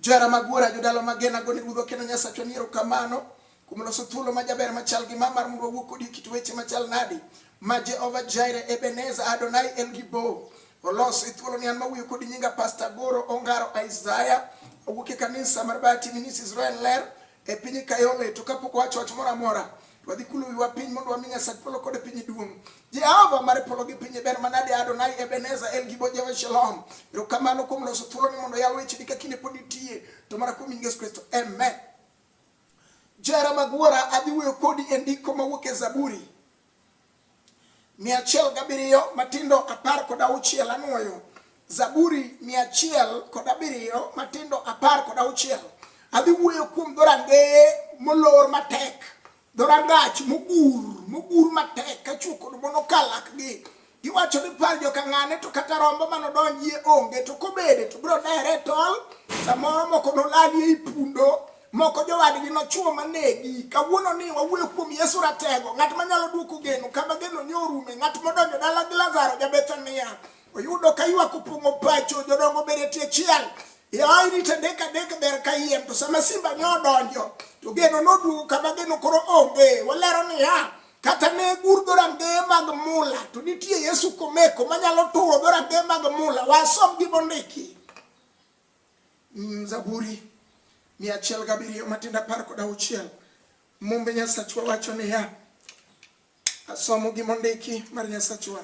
Johera mag wuora, jodala magena, gone udho kendo Nyasachwa ni erokamano kuom loso thuolo ma jaber machal gi ma mar mondo wawuo kodi kit weche machal nadi ma Jehova Jaire, Ebeneza, Adonai, El Gibo oloso e thuolo ni an mawuoyo kodi nyinga Pastor Goro Ongaro Isaiah awuok e kanisa mar Bati Minis Israel Ler e piny kayole to kapok wacho wach moro amora wadhi kulo wiwa piny mondo wami Nyasach polo kod piny duong'. Jehova mar polo gi piny ber manade Adonai Ebenezer El Gibo Jehova Shalom. Erokamano kuom loso thuolo ni mondo yal wecheni ka kinde pod itie to mana kuom Yesu Kristo. Amen. Jera mag wuora adhi wuoyo kodi e ndiko mawuok e Zaburi mia achiel gabiriyo matindo apar kod auchiel anwoyo zaburi mia achiel kod abiriyo matindo apar kod auchiel adhi wuoyo kuom dhorangeye molor matek dhorangach mogur mogur matek kachuo kod monokalakgi Iwacho ni par joka ng'ane to kata rombo mano donjie onge to kobede to bro dere tol samoro moko nolali ei pundo moko jowadgi nochuo manegi kawuono ni wawuoyo kuom Yesu ratego ng'at manyalo duoko geno kama geno ni orume ng'at modonjo dala gi Lazaro ja Bethania oyudo ka ywak opong'o pacho jodongo bede tie chiel yawa irite dek adek ber ka yiem to sama simba nyo odonjo to geno noduogo kama geno koro onge walero niya Kata ne gur dhorangeye mag mula, to nitie Yesu komeko manyalo turo dhorangeye mag mula. Wasom gi mondiki. Mm, Zaburi mia achiel gabiriyo matindo apar kod auchiel. Mumbe Nyasachwa wacho niya, asomo gi mondiki mar Nyasachwa.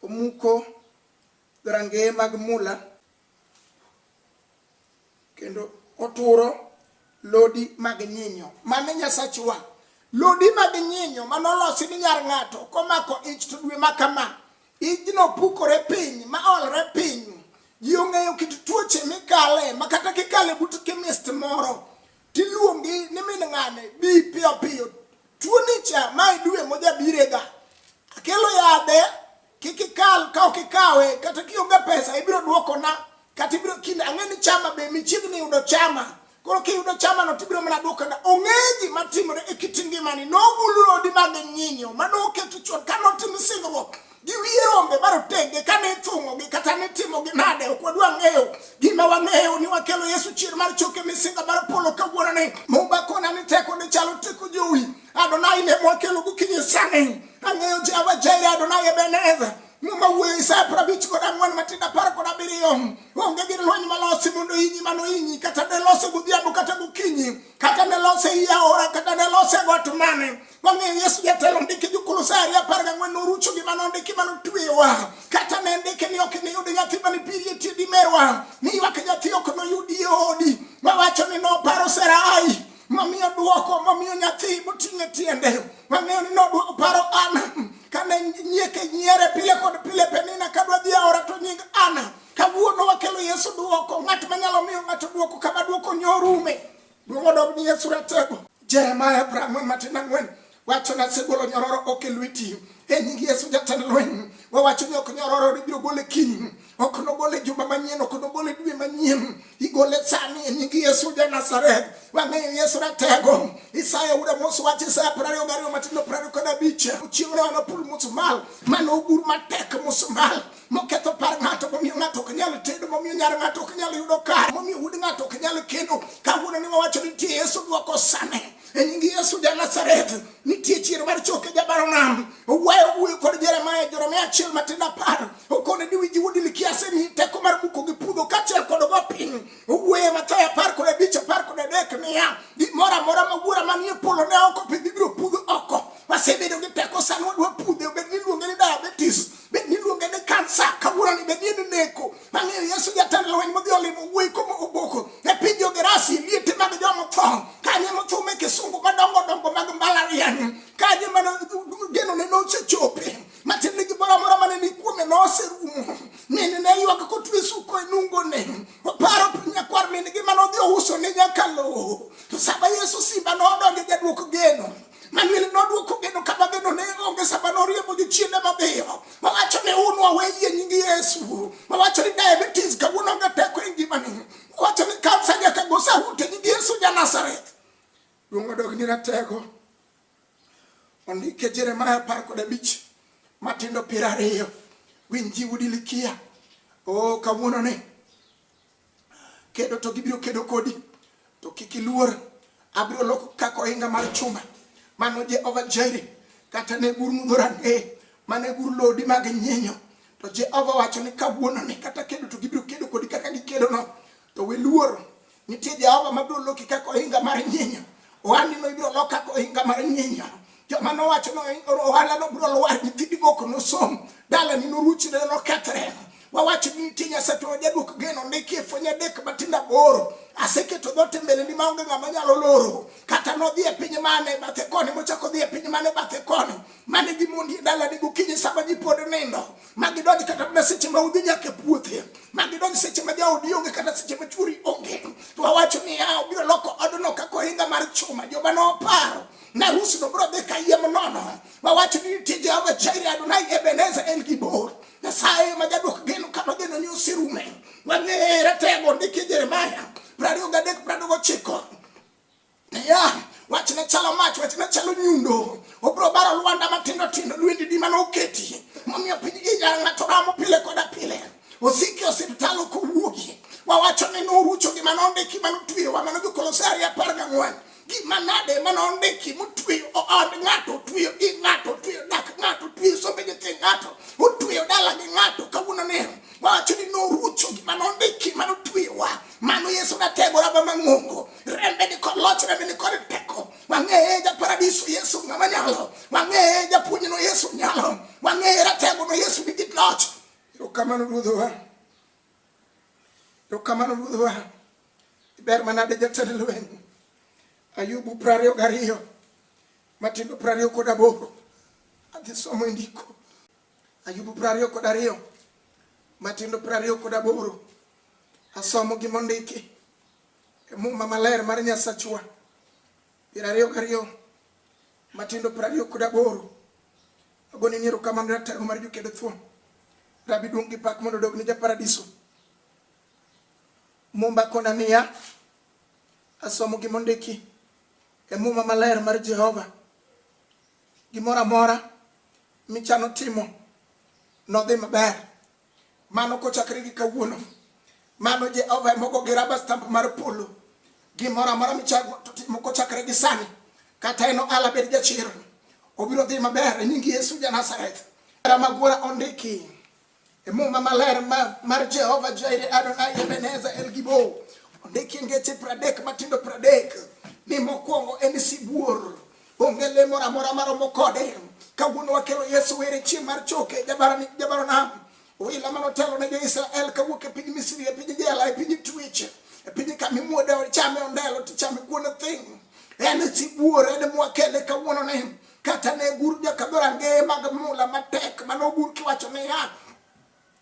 Omuko dhorangeye mag mula kendo oturo lodi mag nyinyo mane nyasachwa lodi mag nyinyo mane olosi ni nyar ng'ato komako ich to dwe ma kama ijno pukore piny ma olre piny ji ong'eyo kit tuoche mikale ma kata kikale but kemist moro tiluongi ni min ng'ane bi piyo piyo tuoni cha ma idwe mojabirega akelo yadhe Kik ikal ka ok ikawe kata kionge pesa ibiro duokona kata ibiro kinde ang'e ni chama be michiegni yudo chama koro kiyudo chama no tibiro mana duokona. Ong'e gima timore e kit ngimani. Nogul rodi mag nyinyo ma noketo chon ka notim singruok gi wiye rombe marotenge ka ne ithung'ogi kata ne timogi nade ok wadwa ng'eyo gima wang'eyo ni wakelo Yesu chier mar choke misinga mar polo kawuononi. Mumba kona ni teko ne chalo teko jowi Adonai ne mwakelo gokinyi sani. Ang'eyo Jehova Jireh, Adonai Ebenezer. Muma wuoyo Isaya prabich kod ang'wen matindo apar kod abiriyo. Onge gir lweny malosi mondo inyi mano inyi, kata ne lose godhiambo kata gokinyi, kata ne lose ei aora, kata ne lose e got mane. Wang'eyo Yesu jatelo ndiki Jokolosae ariyo apar gang'wen norucho gima nondiki ma notweyowa. Kata ne ndike ni ok iniyud nyathi mane piri e tiedi merwa, ni ywak nyathi ok noyudi e odi. Wawacho ni noparo Sarai. mamiyo dwoko mamiyo nyathi moting'e tiende mang'eyo ni nodwoko paro ana kane nyieke nyiere pile kod pile penina kadwa dhi aora to nying ana kawuono wakelo yesu dwoko ng'at manyalo miyo ng'ato dwoko kama dwoko nyorume dwong'o dog ni yesu ratego jeremaya prang'wen matin ang'wen Wacho ni asegolo nyororo ok e lweti e nying Yesu jatend lweny. Wawacho ni ok nyororo ni biro gole kiny, ok nogole juma manyien, ok nogole dwe manyien. Igole sani e nying Yesu ja Nazareth. Wang'eyo Yesu ratego. Isaya uda mos wach Isaya piero ariyo gariyo matindo piero ariyo kod abich. Chieng' ne wana pul musmal, mane ogur matek musmal, moketho par ng'ato, momiyo ng'ato ok nyal tedo, momiyo nyar ng'ato ok nyal yudo kar, momiyo wuod ng'ato ok nyal kendo. Kawuono ni wawacho ni nitie Yesu dwoko sane. e nying Yesu ja Nazareth nitie chier mar choke jabaro nam owayo wuoyo kod Jeremia Jeremia achiel matindo apar okone ni winji wuodi likiase ni teko mar muko gi puodho kachiel kod go piny owuoye Mathayo apar kod abich apar kod adek niya gimoro amora ma wuora manie polo ne oko pidh ibiro pudho oko wasebedo gi teko sani wadwa pudhe bed ni iluonge ni diabetes bed ni iluonge ni kansa kawuoroni bed ni en neko Mamiyo Yesu jatend lweny modhi olimo wuoyi komo oboko e piny Jogerasi liete mag joma tho kanye mothum e kisungu madongo dongo mag mbalariany kanye mano genone nosechope matiende gimoro amora mane ni kuome noserumo nene ne ywak kotwe suko e nungone oparo nyakwar min gi mano odhi ouso ne nyakalowo to sama Yesu simba nodonjo jadwok geno Manuel nodwoko geno kama geno ne onge sama noriembo jochiende mabeyo mawacho ni un waweyie nying Yesu mawacho ni diabetes kawuono onge teko e ngimani wacho ni kansa nyaka go saut e nying Yesu ja Nazareth duong' odogni ratego ondike Jeremaya apar kod abich matindo piero ariyo winji udi likia o kawuono ni Kedo to gibiro kedo kodi, to kik iluor. Abiro loko kaka ohinga mar chuma. Mano Jehova Jairi, kata ne gur mudho rangeye, mane gur lodi mag nyinyo. To Jehova wacho ni kawuono ni kata kedo to gibiro kedo kodi kaka gikedono. To we luoro, nitie Jehova mabiro loki kaka ohinga mar nyinyo. Ohandino ibiro lok kaka ohinga mar nyinya. Joma nowacho ni ohalano biro lwar, nyithindi mok nosom, dalani noruchne nokethre. Wawacho ni nitie Nyasaye to wajaduok geno, ndiki e fwenye adek matindo aboro. Aseketo dhoot e mbeleni maonge ng'ama nyalo loro. Kata nodhi e piny mane bathe koni mochako dhi e piny mane bathe koni, mane gimondi e dalani gokinyi sama ji pod nindo. ma gidonj kata mana seche ma udhi nyaka e puothe ma gidonj seche ma jaodi onge kata seche ma chwori onge to awacho ni ya obiro loko odno kaka ohinga mar chuma joma noparo na harusi no biro dhi kayiem nono wawacho ni nitie jehova jairi adonai ebeneza en gibor nyasaye ma jaduok geno kama geno ni oserume wang'ere tego ndike jeremaya prariyo gadek prado gochiko Yeah. wach ne chalo mach wach ne chalo nyundo obro baro lwanda matindo tindo lwendi di mane oketi momiyo piny ija ng'ato ramo pile koda pile osiki osiptal ok owuogi wawacho ni norucho gima nondiki mane otweyowa mano jokolose ariyo apar gang'wen gima nade mane ondiki motweyo od ng'ato otweyo i ng'ato otweyo dak ng'ato otweyo sombe nyithi ng'ato otweyo dala gi ng'ato kawuono ni wawacho ni norucho gima nondiki mane otweyowa Mano Yesu natego raba mang'ongo, rembe ni kod loch, rembe ni kod teko. Wang'eye ja paradiso Yesu ng'ama nyalo, wang'eye japuonj no Yesu nyalo, wang'eye ratego no Yesu nigi loch. Erokamano ruodhowa, erokamano ruodhowa. Iber manade jatend lweny Ayubu prariyo gariyo matindo prariyo kod aboro adhi somo e ndiko Ayubu piero ariyo kod ariyo matindo piero ariyo kod aboro asomo gima ondiki e muma maler mar Nyasachwa piero ariyo gariyo matindo piero ariyo kod aboro agoni niero kamano ratego mar jokedo thuon rabi duong' gi pak mondo odog ni japaradiso mumba kona niya asomo gima ondiki e muma maler mar Jehova Gimoro amora michano timo nodhi maber. Mano kochakre gi kawuono. Mano Jehova emogo gi raba stamp mar polo. Gimoro amora michano timo kochakre gi sani kata eno ala bed jachir obiro dhi maber e nying Yesu ja Nazareth. Magwara ondiki E Muma maler mar Jehova Jaire Adonai Ebeneza El Gibo ondiki ngeche pradek matindo pradek ni mokwongo en sibuor onge le moro amora maromo kode kawuono wakelo Yesu were chieng' mar choke jabaro nam oila mano telo ne jo-Israel kawuok e piny Misri e piny jela e piny twech e piny kama imuode chame ondelo tichame kuon thing en sibuor en mwakele kawuono ne Kata ne gur jokadho rangeye mag mula matek mane ogur kiwacho niya,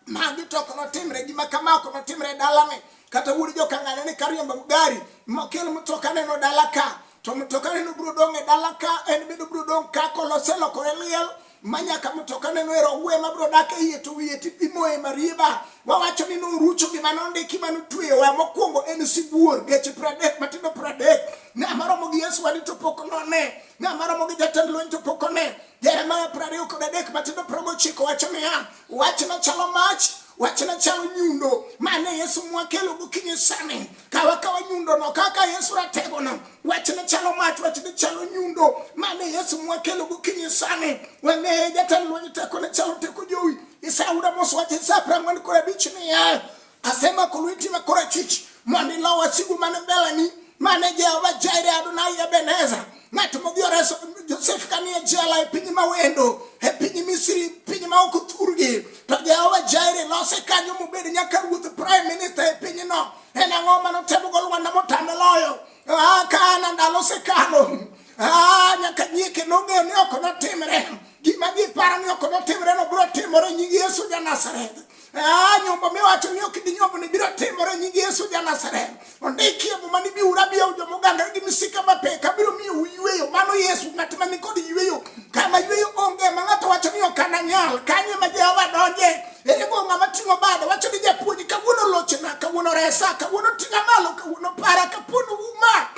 magi to ok notimre, gima kama ok notimre e dalani. Kata wuod jokang'ane ni kariembo gari mokel mtoka neno dala ka to mtoka neno biro dong' e dala ka en bende biro dong' ka koloselokore liel manyaka mtoka neno ero ogwe mabiro dak e iye to wiye ti- imoye marieba wawacho ni norucho gima nondiki mano tweyowa mokwongo en sibuor geche pradek matindo pradek ne amaromo gi yesu wadi to pok none Ng'a maromo gi jatend lweny to pok one. Jeremia piero ariyo kod adek matindo piero gochiko wacho niya, wach machalo mach wach machalo nyundo mane yesu mwakelo gokinyi sani kawa kawa nyundono kaka yesu rategono wach machalo mach wach machalo nyundo mane yesu mwakelo gokinyi sani wane jatend lweny teko ne chalo teko jowi isauda mos wach isa piero ang'wen kod abich niya Asema kulwiti na korachich mani lawa sigu mane belani mane Jehova Jaire Adonai Ebeneza ng'at modhi oreso Josef kani e jela e piny mawendo e piny Misri piny ma ok othurgi to Jehova Jaire lose kanyo mobed nyaka ruoth prime minister e pinyno en ang'o mane otemogo Lwanda motame loyo ah, kana ndalo osekalo ah, nyaka nyieke nong'eyo ni ok notimre gima giparo ni ok notimre no biro timore nying Yesu ja Nazareth Ah, nyombo miwacho ni ok ginyombo ni biro timore nying Yesu ja Nazareth. Ondiki e muma ni biuru abiya joma ogangore gi misika mapek abiro miyo uyweyo. Mano Yesu ng'at ma nikod yweyo. Kama yweyo onge ma ng'ato wacho ni ok ananyal. Kanye ma Jehova donje. Ere go ng'ama ting'o bade wacho ni japuonj kawuono lochna kawuono resa kawuono ting'a malo kawuono para kapuono uma.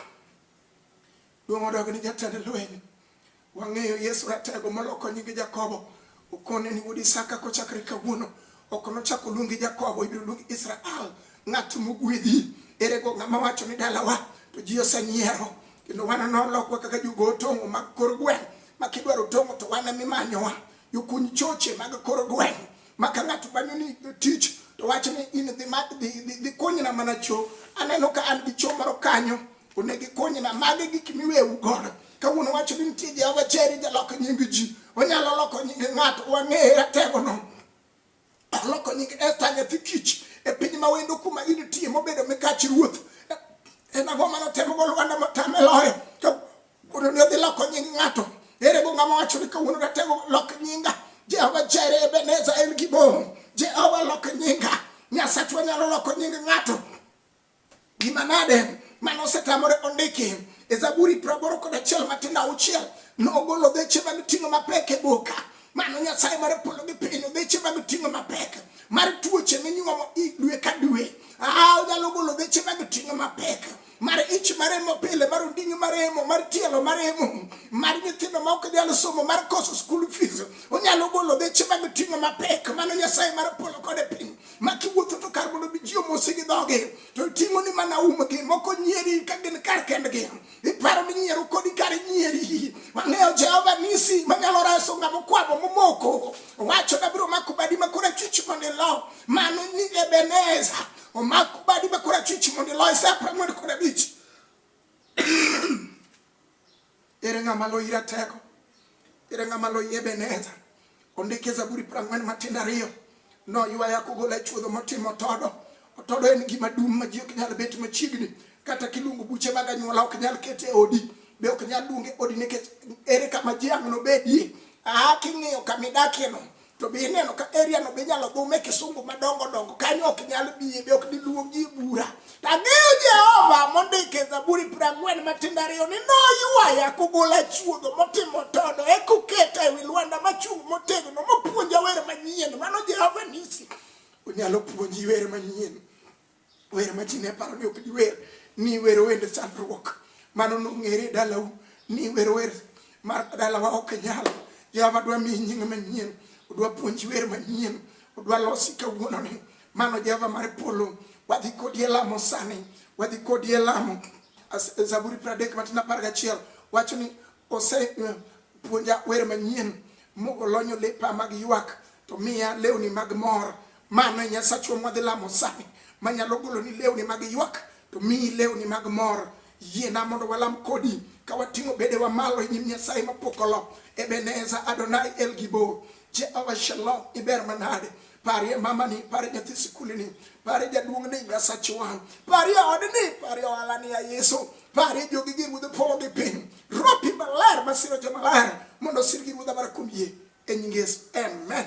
Duong' odog ni jatend lweny. Wang'eyo Yesu Ratego moloko nyinge Jakobo. Okone ni wuod Isaka kochakre kawuono. Ok nochak oluongi Jakobo, ibiro luongi Israel, ng'at mogwedhi. Ere go ng'ama wacho ni dalawa? To ji osenyiero. Kendo wan nolokwa kaka jogo tong'o mag kor gweng' ma kidwaro tong'o to wan emimanyowa. Jokuny choche mag kor gweng'. maka ng'ato manyo ni tich to wach ni in dhi ma dhi dhi, dhi konyna mana cho aneno ka an gi cho moro kanyo onego ikonyna mage gik miwewu godo kawuono wacho ni nitie jehova cheri jaloko nying ji onyalo loko nying ng'ato wang'eye rategono oloko nying esta nyathi kich e piny ma wendo kuma initie mobedo mikach ruoth en ang'o manotemogo lwanda motame loyo Wuono ni odhi loko nying ng'ato. Ere go ng'ama wacho ni kawuono ratego lok nyinga. Jehova Jire Ebeneza en gibom. Jehova lok nyinga. Nyasachwa nyalo loko nying ng'ato. Gima nade mane osetamore ondiki e Zaburi praboro kod achiel matindo auchiel nogolo dheche mag ting'o mapek e boka mano nyasaye mar polo gi piny dheche mag ting'o mapek mar tuoche minyuomo dwe ka dwe aa onyalo golo dheche mag ting'o mapek mar ich maremo pile mar ondingi maremo mar tielo maremo mar nyithindo ma ok nyal somo mar koso school fees onyalo golo deche mag ting'o mapek mano nyasaye mar polo kode piny ma kiwuotho to kar mondo biji omosi gi dhoge to ting'o ni mana umgi moko nyieri ka gin kar kendgi iparo ni nyiero kodi kar nyieri wang'eyo jehova nisi manyalo reso ng'ama okwamo momoko owacho nabiro mako badi makora chich mondo ilo mano ni ebeneza omako badi ma korachwich mondo iloye sa apar mondo kod abich ere ng'ama loyi ratego ere ng'ama loyi ebeneza ondike zaburi prang'wen matindo ariyo noywaya kogola e chuodho motimo todo otodo en gima dum ma ji ok nyal bet machiegni kata kiluongo buche mag anyuola ok nyal kete e odi be ok nyal luonge odi nikech ere kama ji ang' nobedie aa king'iyo kamidakieno to be ineno ka area no be inyalo dhume kisungu madongo dongo kanyo ok nyal biye be ok diluongi bura to ang'eyo jehova mondiko e zaburi piero ang'wen matindo ariyo ni noywaya kogol achuodho motimo todo e koketa ewi lwanda machung' motegno mopuonja wer manyien mano jehova nisi onyalo puonji wer manyien wer ma ji ne paro ni ok diwer ni wero wende chandruok mano nong'ere e dalau ni wero wer mar dalawa ok nyal jehova dwa miyi nying manyien odwa puonji wer manyien odwa losi kawuononi mano jehova mar polo wadhi kodi e lamo sani wadhi kodi e lamo As- zaburi pradek matin apar gachiel wacho ni ose eh, puonja wer manyien mogolonyo lepa mag ywak to miya lewni mag mor Mano e Nyasachwa mwadhi lamo sani, manyalo goloni lewni mag ywak to miyi lewni mag mor. Yiena mondo walam kodi ka wating'o bedewa malo e nyim Nyasaye mapok olo. Ebeneza Adonai El Gibor, Jehova Shalom, iber manade? Parie mamani, parie nyathi sikulini, parie jaduong'ni, Nyasachwa, parie odni, parie ohalani ya Yesu, parie jogi gi ruodhe polo gi piny, ropi maler masiro jomaler mondo osirgi ruodha mar kuom yie e nying Yesu. Amen.